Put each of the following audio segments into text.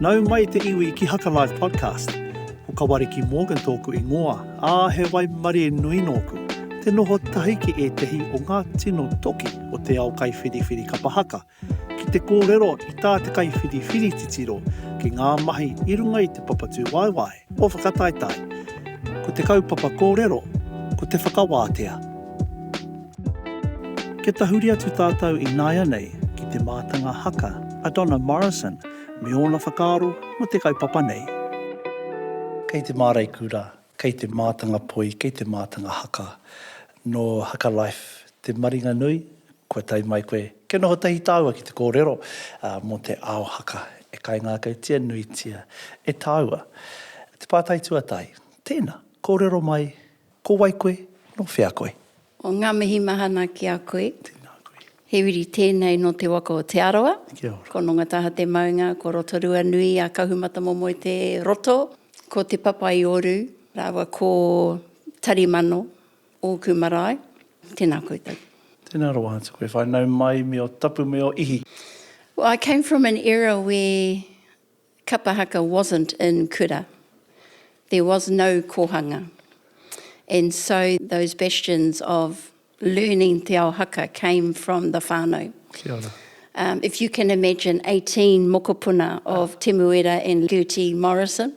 Nau mai te iwi ki Hakalive Podcast. Ko Kawariki Morgan tōku ingoa, ā, he waimarie nui nōku. Te noho tahi ki ētehi o ngā tino toki o te ao kaiwhiriwhiri kapa haka, ki te kōrero i tā te kaiwhiriwhiri titiro ki ngā mahi i runga i te papatūwaewae. Ko Whakataetae, ko te kaupapa kōrero, ko te whakawātea. Kia tahuri atu tātou ināianei ki te mātanga haka a Donna Morrison me ōna whakaaro mō te kaupapa nei. Kei te māreikura, kei te mātanga poi, kei te mātanga haka. Nō Haka Life te maringa nui, Kua tae mai koe. Kia noho tahi tāua ki te kōrero mō te ao haka e kaingākautia nuitia e tāua. Te pātai tuatahi, tēnā, kōrero mai, ko wai koe, nō whea koe? O ngā mihi mahana ki a koe. Tēnā koe. He uri tēnei nō te waka o Te Arawa. Kia ora. Ko Nongataha te maunga, ko Rotorua nui a Kahumatamomoe te roto, ko Te Papa-i-Oru rāua ko Tarimano Ōku marae, tēnā koutou. Tēnā rawa atu koe whānau mai me o tapu me o ihi. Well I came from an era where kapa haka wasn't in kura. There was no kōhanga and so those bastions of learning te ao haka came from the whānau. Kia ora. Um if you can imagine 18 mokopuna of Temuera and Gertie Morrison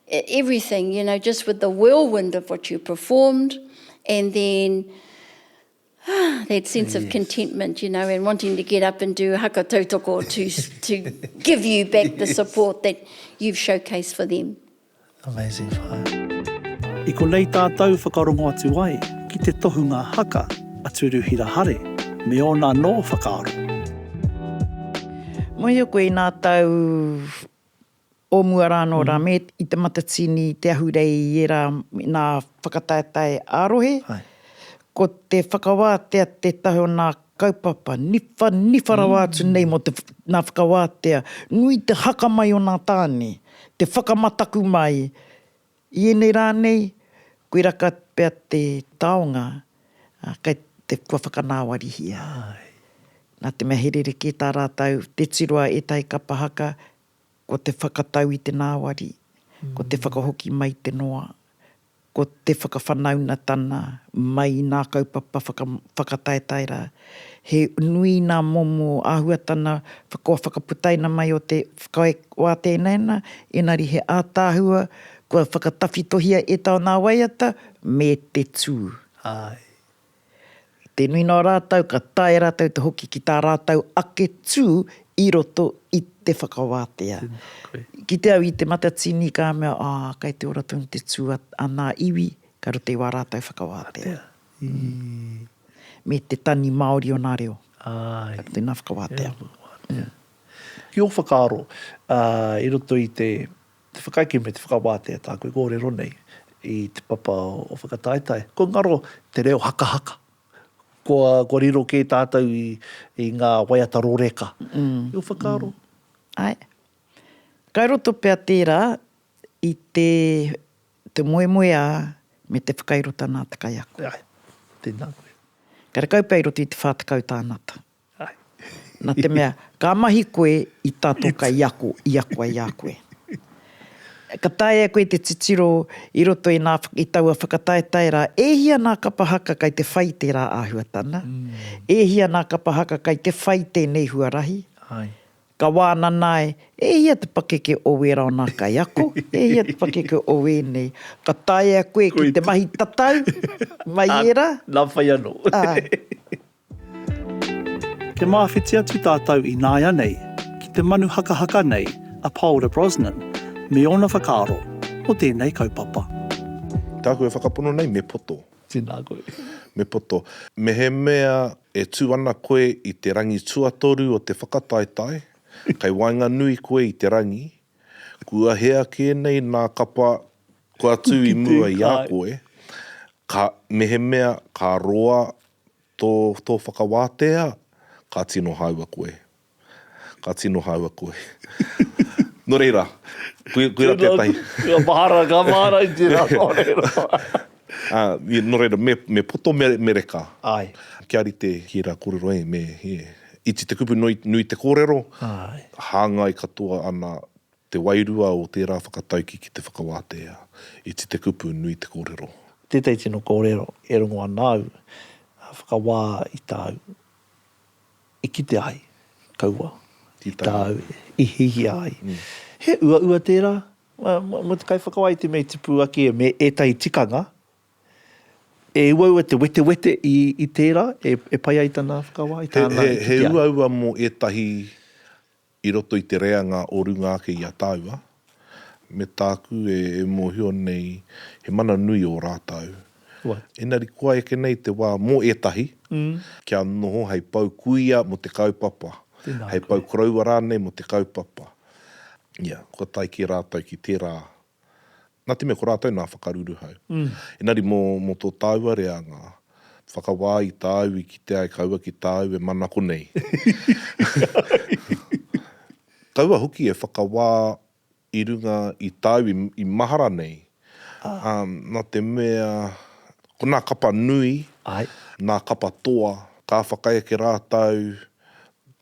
everything, you know, just with the whirlwind of what you performed, and then ah, that sense yes. of contentment, you know, and wanting to get up and do haka tautoko to, to give you back yes. the support that you've showcased for them. Amazing fire. I ko nei tātou whakarongo atu ai ki te tohunga haka a Turuhira Hare me ōna nō whakaaro. Moio koe nā tau o mua rā anō rā, me i te matatini, i te ahurei, i ērā nā whakataetae ā-rohe. Ko te whakawātea tētahi o nā kaupapa niwha, niwha rawa atu nei mō te, nā whakawātea, nui te haka mai o nā tāne, te whakamataku mai i ēnei rā nei, koirā ka pea te taonga, kei te, kua whakanāwarihia. Nā te mea he rerekē tā rātou, tē tiroa ētahi kapa haka, Ko te whakatau i te nāwari, ko te whakahoki mai i te noa, ko te whakawhanaunatana mai i nā kaupapa whakataetae rā. He nui nā momo āhuatana kua whakaputaina mai o te whakawā teinaina, engari he ātaahua kua whakatawhitohia e taua nā waiata me te tū. Āe. I te nui noa rātou ka taea rātou te hoki ki tā rātou ake tū i roto i te whakawātea. Ki te au i Te Matatini ka mea, ah, kei te ora tonu te tū a ana iwi, ka rite i wā rātou whakawātea. Me te tani Māori o nā reo. Ka rite nā whakawātea. Ki ō whakaaro, i roto i te. Te whakaeke me te whakawātea tāku e kōrero nei i te papa o Whakataetae. Kua ngaro te reo hakahaka. Kua, kua riro kē tātou i, i ngā waiata roreka. I ō whakaaro? Āe. Kai roto pea tērā i te, te moemoeā me te whakairo tana te kaiako. Āe. Tēnā koe. Karekau pea i roto i te whā tekau tānata. Na te mea, ka mahi koe i ta to ka i ako, i ako ai a koe. Ka taea e koe te titiro i roto i na, i taua whakataetae ra, e hia na kapa haka kai te whai tera ahuatana? E hia na kapa haka kai te whai tenei huarahi? Ka wanana ai, e hia te pakeke o wera o na kaiako? E hia te pakeke o wenei? Ka taea koe ki te mahi tatau mai era? Na whai ano. Te māwhiti atu tātou ināianei ki te manu hakahaka nei a Paora Brosnan me ōna whakaaro mō tēnei kaupapa. Tāku e whakapono nei me poto. Tēnā koe. Me poto. Mehemea e tū ana koe i te rangi tuatoru o te whakataetae, kei waenganui koe i te rangi, kua hea kē nei nā kapa kua tū i mua i a koe, ka, mehemea ka roa tō, tō whakawātea, ka tino hāua koe. Ka tino hāua koe. Nō reira, koe, koera tētahi. Ka mahara, ka mahara i tērā, nō reira. Ā, nō reira, me, me poto, me, me reka. Āe. Kia rite ki ērā kōrero, ē, me, ē. Iti te kupu, nui, nui te kōrero. Āe. Hāngai katoa ana Te wairua o tērā whakatauki ki te whakawātea, iti te kupu, nui te kōrero. Tētahi tino kōrero e rongo ana au, whakawā i tāu i kite ai, kaua i tāu i hihia ai. He uaua tērā mō te kaiwhakawā i te mea i tipu ake me ētahi tikanga e uaua te wetewete i tērā e pai ai tana whakawā i tāna i kite ai. He uaua mō ētahi I roto i te reanga o runga ake i a tāua, me tāku e mōhio nei he mana nui ō rātou. Engari kua eke nei te wā mō ētahi kia noho hei pou kuia mō te kaupapa, hei pou koroua rānei mō te kaupapa. Ia, kua tae kē rātou ki tērā Nā te mea ko rātou nā whakaruruhau. Engari mō, mō tō tāua reanga, whakawā i tāu i kite ai kaua ki tāu e manako nei. Kaua hoki e whakawā i runga i tāu i, i mahara nei. Ā, nā te mea, ko nā kapa nui, nā kapa toa, ka whakaeke rātou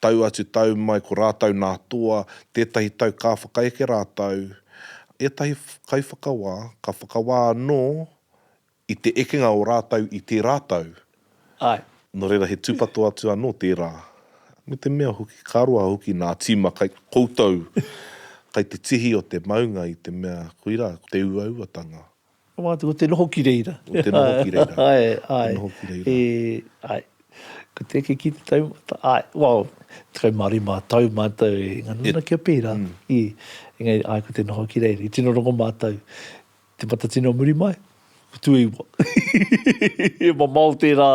Tau atu tau mai ko rātou nā Toa, tētahi tau ka whakaeke rātou, ētahi kaiwhakawā ka whakawā anō i te ekenga o rātou i tērā tau. Āe. Nō reira he tūpato atu anō tērā. Me te mea hoki ka roa hoki nā tīma kai koutou kai te tihi o te maunga i te mea koirā te uauatanga. Ko mātou ko te noho ki reira. Ko te noho ki reira. Ae, ae. Te noho ki reira. E, ae. Ko te eke ki te taumata, ae. Well, tekau mā rima tau mātou e ngana ana kia pērā. Mm. I, engari, ae, ko te noho ki reira. I tino rongo mātou, te matatini o muri mai, ko tuaiwa. He mamao tērā,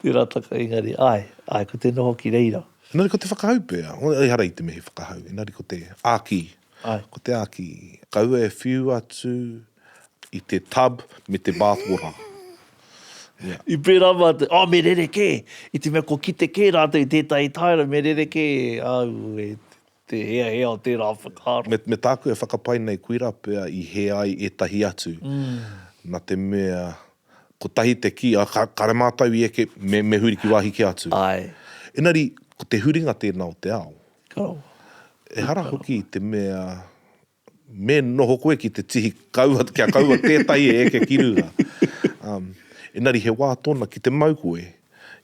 tērā taka, engari, ae, ae, ko te noho ki reira. Engari ko te whakahau pea, ehara i te me he whakahau, engari ko te āki, Ko te āki. Kaua e whiu atu i te tub me te bath water. Ia. I pērā mātou, oh, me rerekē! I te mea kua kite kē rātou i tētahi taera, me rerekē au e te heahea o tērā whakaaro. Me, me tāku e whakapae nei koirā pea i hē ai ētahi atu, nā te mea, kotahi te kī, oh, ka, kāre mātou i eke, me, me huri ki wāhi kē atu. Āe. Engari, ko te huringa tēnā o te ao. Ehara hoki te mea me noho koe ki te tihi kaua, kia kaua tētahi e eke ki runga. Engari he wā tōna ki te mau koe,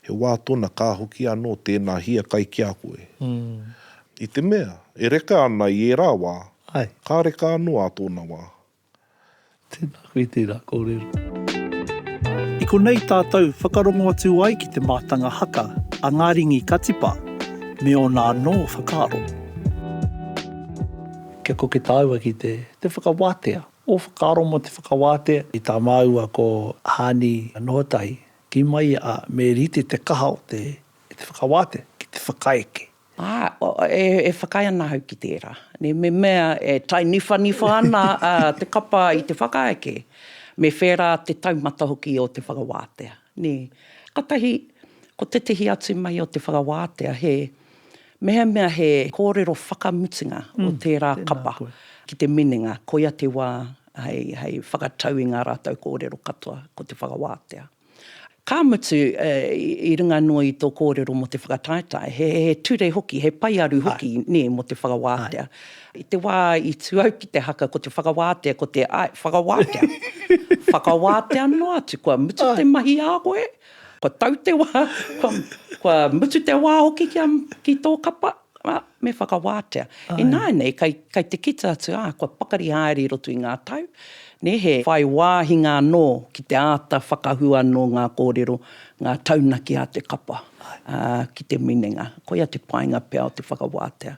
he wā tōna ka hoki anō tēnā hiakai ki a koe. I te mea, e reka ana i ērā wā, ka reka anō ā tōna wā. Tēnā koe, tērā kōrero. I konei tātou whakarongo atu ai ki te mātanga haka a Ngā Ringi Katipa me ōna anō whakaaro. Kia koke tāua ki te whakawātea ō whakaaro mō te whakawātea i tā māua ko Haani Nohotahi, kī mai ia, ā, me rite te kaha o te whakawātea ki te whakaeke. Ā, e whakaae ana ahau ki tērā. Me mea e tainiwhaniwha ana te kapa i te whakaeke, me whērā te taumata hoki o te whakawātea. Kātahi, ko tētahi atu mahi o te whakawātea, he mehemea he kōrero whakamutunga o tērā kapa ki te minenga, koia te wā hei whakatau i ngā rātou kōrero katoa ko te whakawātea. Ka mutu, i runga noa i tō kōrero mō te whakataetae, he ture hoki, he paearu hoki nē mō te whakawātea. I te wā i tū au ki te haka ko te whakawātea, ko te, āe, whakawātea. Whakawātea noa atu, kua mutu te mahi ā koe, kua tau te wā, kua mutu te wā hoki ki tō kapa. Ā, me whakawātea. Ināianei, kai, kai te kita atu, ā, kua pakari haere i roto i ngā tau, nē, he. Whai wāhinga anō ki te āta whakahua nō ngā kōrero, ngā taunaki a te kapa, ā, ki te minenga. Koia te painga pea o te whakawātea.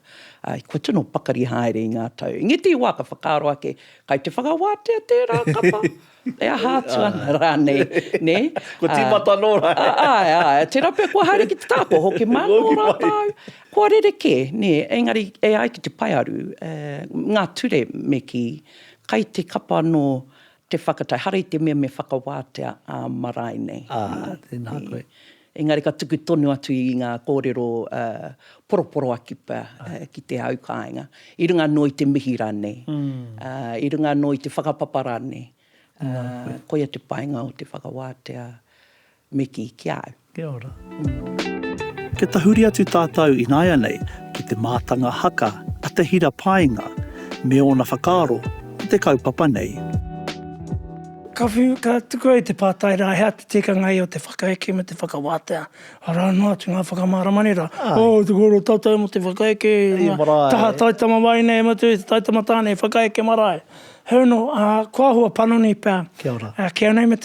Ā, kua tino pakari haere i ngā tau. Engeti i wā, ka whakaaro ake, kai te whakawātea tērā kapa? E aha atu ana rānei, nē? Kua tīmata anō rānei? Āe, āe. Tērā pea kua haere ki te taha, kua hoki mai anō rātou. Kua rerekē, nē. Engari, e ai ki te paearu, ngā ture me kī, kai te kapa anō te whakatau, haere i te mea me whakawātea ā marae nei. Ā, tēnā koe. Engari ka tuku tonu atu i ngā kōrero poroporoaki pea ki te au kāinga, i runga anō i te mihi rānei, i runga anō i te whakapapa rānei, koia te painga o te whakawātea me kī ki a au. Kia ora. Kia tahuri atu tātou ināianei ki te mātanga haka a Te Hira Paenga me ōna whakaaro ki te kaupapa nei. Ka whiu, ka tukua i te pātai rā, he aha Tikanga ia o te whakaeke me te whakawātea, arā noa atu ngā whakamāramanera, oh, te kōrero tātai mō te whakaeke, taha taitama wāhi nei e Matua i te taitama tāne, whakaeke marae. Heoi anō, ko ahua panoni pea, kei au nei me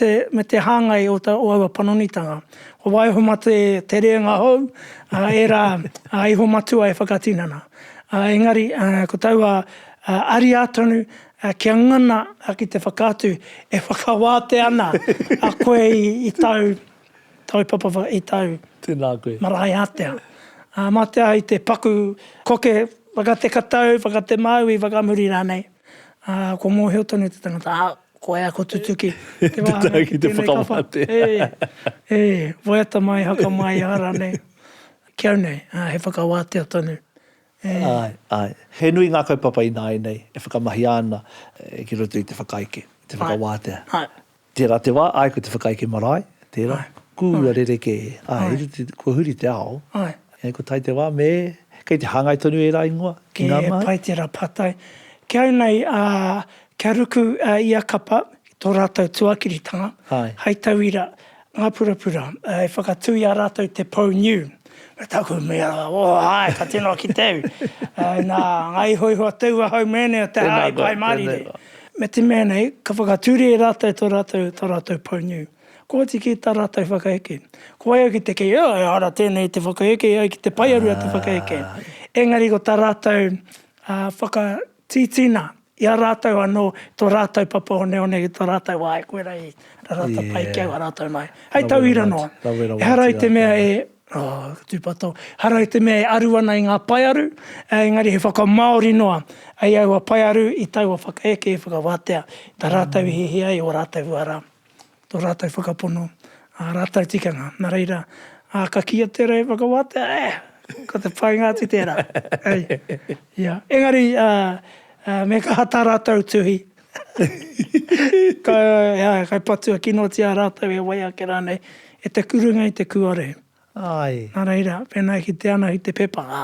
te hāngai o aua panonitanga, ko waiho mā te rēnga hou, ērā iho matua e whakatinana. Engari, ko taua ariā tonu, Ā, kia ngana ki te whakaatu, e whakawātea ana a koe i tāu taupapa, i tāu marae ātea. Ā, mā te aha i te paku koke whakatekatau, whakatemāui, whakamuri rānei, ā, kua mōhio tonu te tangata, ā, ko wai a ko Tutuki te wāhanga ki tēnei kapa. E, e, waiata mai, haka mai, aha rānei. Ki au nei, ā, he whakawātea tonu Āe, āe. He nui ngā kaupapa ināianei e whakamahia ana ki roto i te whakaeke, te whakawātea. Tērā te wā, āe, ko te whakaeke marae, tērā, kua rerekē, āe, kua huri te ao, engari kua tae te wā me, kei te hāngai tonu ērā ingoa ki ngā mahi. He pai tērā pātai. Ki au nei, kia ruku ia kapa ki tō rātou tuakiritanga, hei tauira, Ngā purapura, e whakatū i a rātou te pou niu. Me taku mea, o, āe, ka tino ki te au. Nā, ngā ihoiho a taua hau mēnei o te hā i Pae Mārire. Me te mea nei, ka whakatūria e rātou tō rātou, tō rātou pou niu. Kooti ki tā rātou whakaheke. Ko wai au ki te kī, oh, ehara tēnei te whakaheke, ai ki te paearu a te whakaheke. Engari ko tā rātou whaka, Tītina, i a rātou anō, tō rātou papa oneone ki tō rātou wā, e koirā i rarata pai ki au a rātou nāiā. Hei tauira noa, ehara i te mea e, oh, ka tūpato, ehara i te mea e aru ana i ngā paearu, engari he whakamāori noa i aua paearu i taua whakaeke i whakawātea, tā rātou i hiahia ai ō rātou uara. tō rātou whakapono, ā rātou tikanga. Nā reira, ā, ka kīia tērā e whakawātea, eh, ko te painga atu tērā, hei, ia. Engari, ā, ā, me kaha tā rātou tuhi, kai, ā, kai patua kinotia rātou e wai ake rānei, e te kurunga i te kuare. Āe. Nā reira, pēnā e kitea ana i te pepa, ā,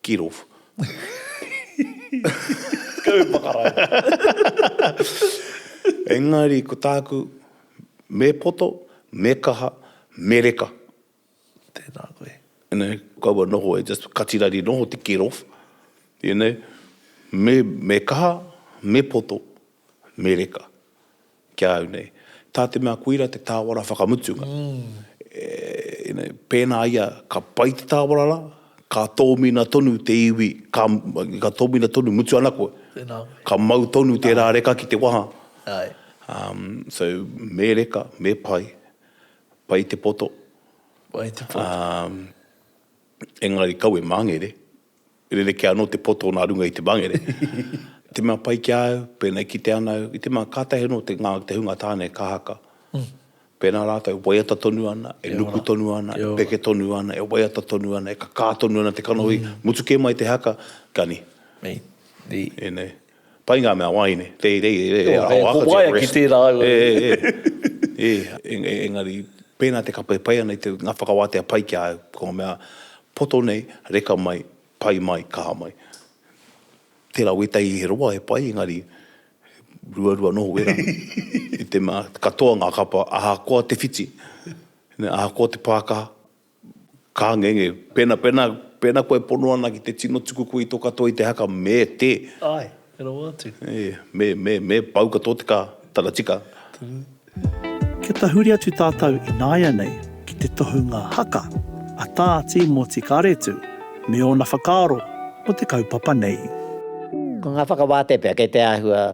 Get off. Go whakarae. Engari ko tāku, me poto, me kaha, me reka. Tēnā koe. You know, kaua noho e just kati rari noho te get off. You know, me, me kaha, me poto, Mereka, ki a au nei. Tā te mea koira te tāwara whakamutunga. Pēnā ia ka pai te tāwara rā, ka tōmina tonu te iwi, ka tōmina tonu, mutu ana koe. Tēnā koe. Ka mau tonu tērā reka ki te waha. Ae. So, me reka, me pai. Pai te poto. Pai te poto. Engari kau e māngere. Rerekē anō te poto nā runga i te mangere. Te mea pai ki a au, pēnā i kite ana au, i te mea kātahi anō te ngā, te hunga tāne ka haka. Pēnā rātou e waiata tonu ana, e nuku tonu ana, e peke tonu ana, e waiata tonu ana, e kakā tonu ana te kanohi, mutu kē mai te haka, kani. Nei. Nei. Nei. Pai ngā mea wāhine, teitei e rere e aho aka te rest. He waia ki tērā au. E, engari, pēnā te kapa e pai ana i te, ngā whakawātea pai ki a au, ko ngā mea poto nei, reka mai, pai mai, kaha mai. Tērā wētahi he roa he pai, engari, ruarua noho wērā. I te mea, katoa ngā kapa, ahakoa te whiti, ahakoa te pākaha, Ka ngenge. Pena, pena, pena koe pono ana ki te tino tuku koe i to katoa i te haka, me te. Ae, e rawa atu. E, me, me, me pau katoa te ka, tana tika. Kia tahuri atu tātou ināianei ki te tohunga haka a Tā Tīmoti Karetu me ōna whakaaro mō te kaupapa nei. Ko ngā whakawātea pea kei te āhua.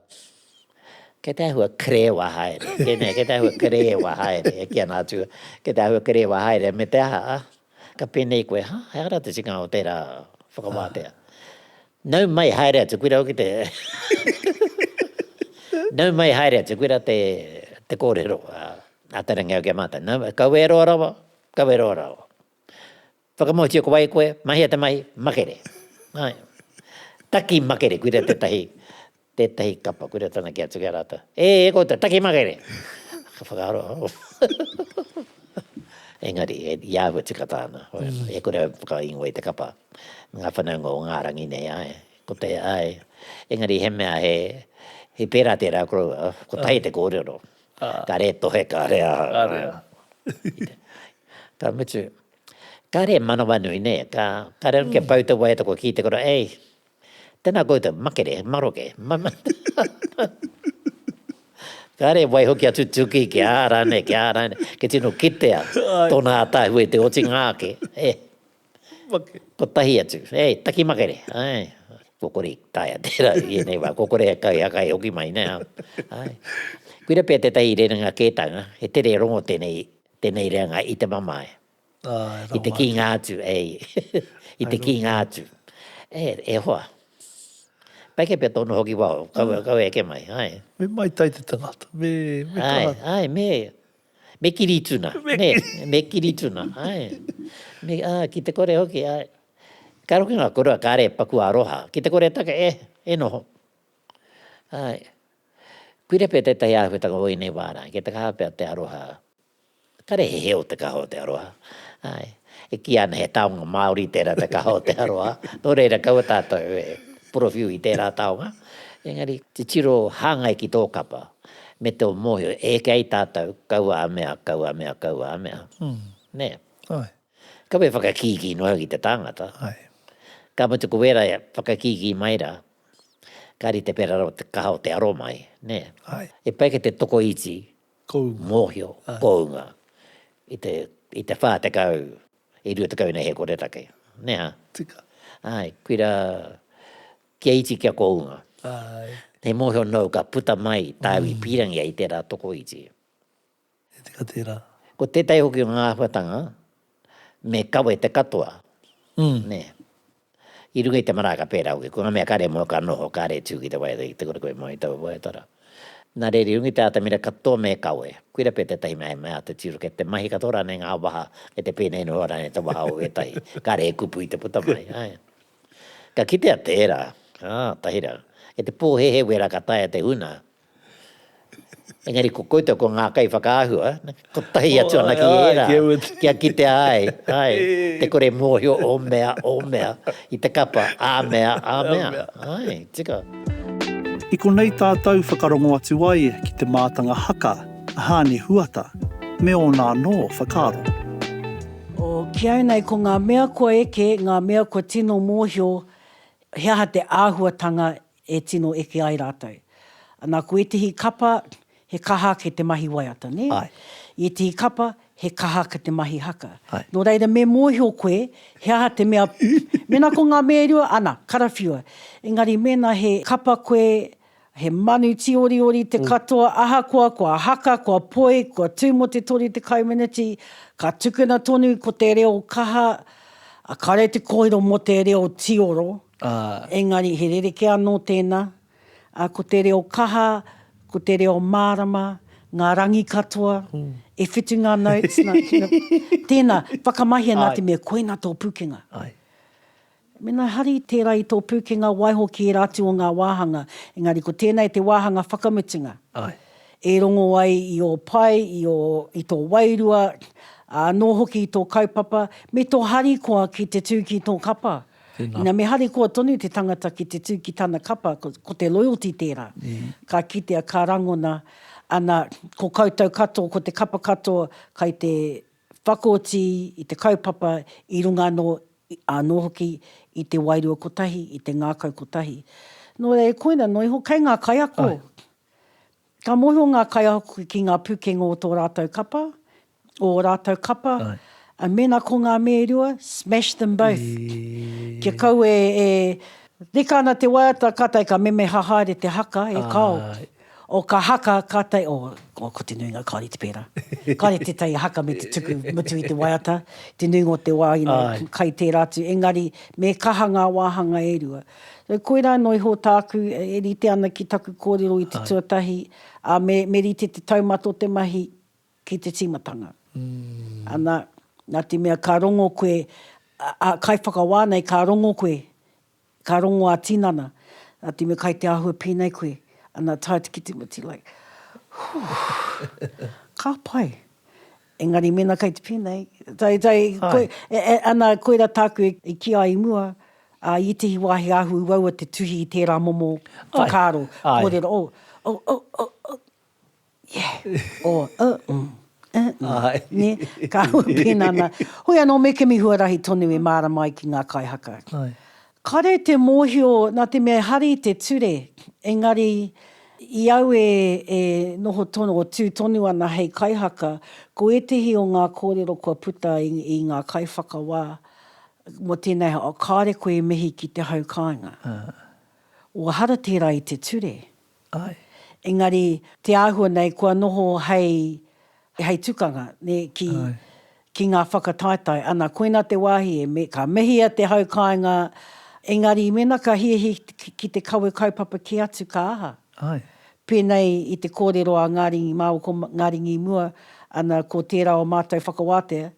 Kei te āhua kerēwa haere, tēnei, kei te āhua kerēwa haere, e kī ana a Tū, kei te āhua kerēwa haere, me te aha, ka pēnei koe, hā, he ara te tikanga o tērā whakawātea. Nau mai, haere atu, koira hoki te, nau mai, haere atu, koira te, te kōrero a Te Rangihaua ki a mātou, nau mai, kawe e roa rawa, kawe e roa rawa. Whakamoetia ko wai koe, mahia te mahi, makere. Ae. Taki makere, koira tetahi, tetahi kapa, koira tana ki atu ki a ratou, E, e koutou, taki makere! Ka whakaaro, engari, i ahua tika tana, e kore au whakaingoa i te kapa, me nga whanaunga o nga rangi nei, ae, ko te, ae, engari he mea he, he pera tera koroua, kotahi te korero, kare tohe, kare aha, ae. Ka mutu. Kare manawa nui ne ka kare no kia pau te waiata kua ki te kura ei tena koutou makere maroke kare waiho kia tutuki kia rane kia rane ke tino kitea tona atahue te otinga ake e ko tahi atu ei taki makere ai ko kore taia tera i enei wa ko kore kai hakai hoki mai ne ai kuira pe te tahi rerenga ketanga he tere rongo tenei. Tenei reanga i te mamae. Ae, rau mate. I te kinga atu, ei. I te kinga atu. E, e hoa. Pai kei pea tonu hoki wao, kau, kau e eke mai, ae. Me mai tai te tangata, me, me kaha. Ae, ae, me, me kiri tuna. Me kiri. Me, me kiri tuna, ae. Me, a, ki te kore hoki, ae. Kare hoki nga korua, kare paku aroha. Ki te kore taka, e, e noho. Āe. Kuira pea tētahi āhuatanga o ēnei wā rā, kei te kaha pea te aroha. Kare he heo te kaha o te aroha. Āe. E kīia ana he taonga Māori tērā te kaha o te aroha, nō reira kaua tātou e porowhiu i tērā taonga. Engari, titiro hāngai ki tō kapa me tō mōhio, e eke ai tātou, kaua a mea, kaua a mea, kaua a mea. Nē? Āe. Kaua e whakakīkī noa au ki te tāngata. Āe. Ka mutu ko wērā e whakakīkī mai rā, Ka rite pera rawa te kaha o te aro mai, nē? Āe. He pai kei te tokoiti, mōhio, kounga i te, i te whā tekau, i rua tekau nei he koretake, nē hā? Tika. Āe, koirā, kia iti kia kounga. Āe. He mōhio nōu ka puta mai tāu i pīrangi ai i tērā tokoiti. He tika tērā. Ko tētahi hoki o ngā āhuatanga, me kawe te katoa, nē, i runga i te maraaka pērā hoki, ko ngā mea kare moe ka noho, kare tū ki te waiata ki te kura koe mai i taua waiatara. Nā reira, i runga i te atamira katoa me kawe, koira pea tētahi mea he mea āta tiro, kei te mahi katoa rānei ngā waha, kei te pēnei noa rānei te waha o ētahi, kāre he kupu i te puta mai. Āe. Ka kitea tērā, ā, tahera, kei te pōhēhē wērā ka taea te huna, Engari ko koutou ko ngā kaiwhakaahua, kotahi atu ana ki ērā, kia kitea ai, āe, te kore mōhio ō mea, ō mea, i te kapa, ā mea, ā mea, āe, tika. I konei tātou whakarongo atu ai ki te mātanga haka a Hāni Huata me ōna anō whakaaro. O, ki au nei ko ngā mea kua eke, ngā mea kua tino mōhio he aha te āhuatanga e tino eke ai rātou. Nā, ko ētehi kapa, he kaha ake te mahi waiata, nē? Āe. I ētehi kapa, he kaha ake te mahi haka. Āe. Nō reira, me mōhio koe, he aha te mea, mēnā ko ngā mea e rua, ana, karawhiua. Engari, mēnā he kapa koe, he manu tīoriori te katoa, ahakoa kua haka, kua poi, kua tū mō te 30 meneti, ka tukuna tonu ko te reo kaha, kāre te kōrero mō te reo tīoro. ā. Engari he rerekē anō tēnā, ā, ko te reo kaha, ko te reo mārama, ngā rangi katoa, e whitu ngā notes nā, tino, tēnā, whakamahia nā te mea koina tō pūkenga. Āe. Mēnā hari tērā i tō pūkenga waiho ki ērā atu o ngā wāhanga, engari ko tēnā e te wāhanga whakamutunga. Āe. E rongo ai i ō pae, i ō, i tō wairua, ā, anō hoki i tō kaupapa, me tō harikoa ki te tū ki tō kapa. Ina me harikoa tonu te tangata ki te tū ki tana kapa, ko te loyalty tērā. Ka kitea, ka rangona, ana, ko koutou katoa, ko te kapa katoa, kai te whakaoti i te kaupapa i runga anō, anō hoki i te wairua kotahi, i te ngākau kotahi. Nō reira, e koina noa iho, kei ngā kaiako, Ka mōhio ngā kaiako ki ngā pūkenga o tō rātou kapa, o ō rātou kapa, ā, mēnā ko ngā me e rua, smash them both. Kia kaua e reka ana te waiata, kātahi ka memeha haere te haka e kao. O ka haka, kātahi, o, o, ko te nuinga kāore i te pērā. Kāore tētahi haka me te tuku mutu i te waiata, te nuinga o te wā ina kai tērā atu, engari me kaha ngā wāhanga e rua. Koirā anō iho tāku e rite ana ki taku kōrero i te tuatahi, ā, me, me rite te taumata o te mahi ki te tīmatanga. Ana, nā te mea ka rongo koe, a, kaiwhakawā nei, ka rongo koe, ka rongo ā-tinana, nā te mea kai te āhua pēnei koe, ana, tae atu ki te mati, like, whoo, ka pai. Engari mēnā kei te pēnei, tai, tai, koe, e, e, ana, koira tāku e, e kī ai i mua, ā, i ētehi wā he ahu uaua te tuhi i tērā momo whakaaro, kōrero, oh, oh, oh, oh, oh, yeah, or, uh, mm, uh, mm, nē, ka hua pēnā nā. Hoi anō me kimi huarahi tonu e mārama ai ki ngā kai haka. Kare te mōhio nā te mea e hari te ture, engari i au e noho tonu, o tū tonu ana hei kaihaka, ko ētehi o ngā kōrero kua puta i ngā kaiwhakawā mō tēnei, kāore koe e mihi ki te hau kāinga. Ua hara tērā i te ture. Āe. Engari, te āhua nei kua noho hei, hei tukanga, nē, ki, ki ngā whakataetae. Ana, koina te wāhi e me, ka mehia te hau kāinga, engari, mēnā ka hiahia ki, ki te kawe kaupapa kē atu, ka aha? Āe. Pēnei i te kōrero a Ngāri Māo ko Ngāri Ngīmua, ana, ko tērā o mātou whakawātea,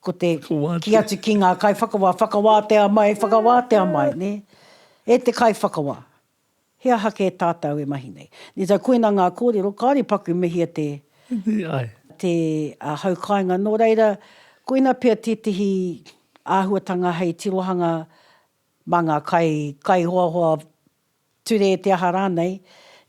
ko te, kī atu ki ngā kaiwhakawā, whakawātea mai, whakawātea mai, nē? E te kaiwhakawā. He aha kē tātau e mahi nei? Nē tae koina ngā kōrero, kāore paku me hia te. Te ai. Te hau kāinga. Nō reira, koina pea tētehi āhuatanga hei tirohanga mā ngā kai, kaihoahoa, ture te aha rānei,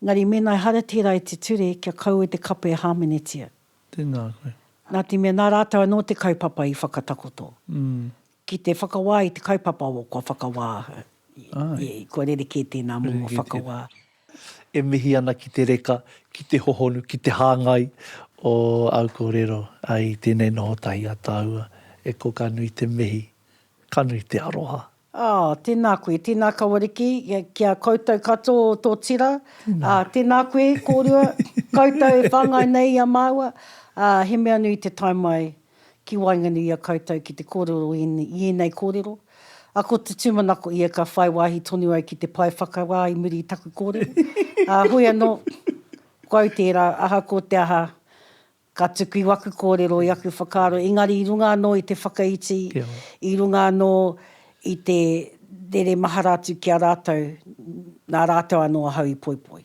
engari mēnā ehara tērā i te ture, kia kaua te kapa e hāmenetia. Tēnā koe. Nā te mea nā rātau anō te kaupapa i whakatakoto. Mm. Ki te whakawā i te kaupapa o kua whakawā, i, i, kua rerekē tēnā momo Rerekē tēnā. whakawā. E mihi ana ki te reka, ki te hohonu, ki te hāngai o āu kōrero i tēnei noho tahi a tāua. E ko ka nui te mihi, ka nui te aroha. Oh, tēnā koe, tēnā Kawariki, ki a koutou katoa o tō tira, ā, tēnā koe kōrua, koutou e whāngai nei i a māua, ā, he mea nui te tae mai ki waenganui i a koutou ki te kōrero i ēnei kōrero, ā, ko te tūmanako ia ka whai wāhi tonu au ki te pae whakawā i muri i taku kōrero, ā, hoi anō, ko au tērā, aha ko te aha, ka tuku i waku kōrero, i aku whakaaro, engari i runga anō i te whakaiti, i runga anō i te rere mahara atu ki a rātou, nā rātou anō ahau i poipoi.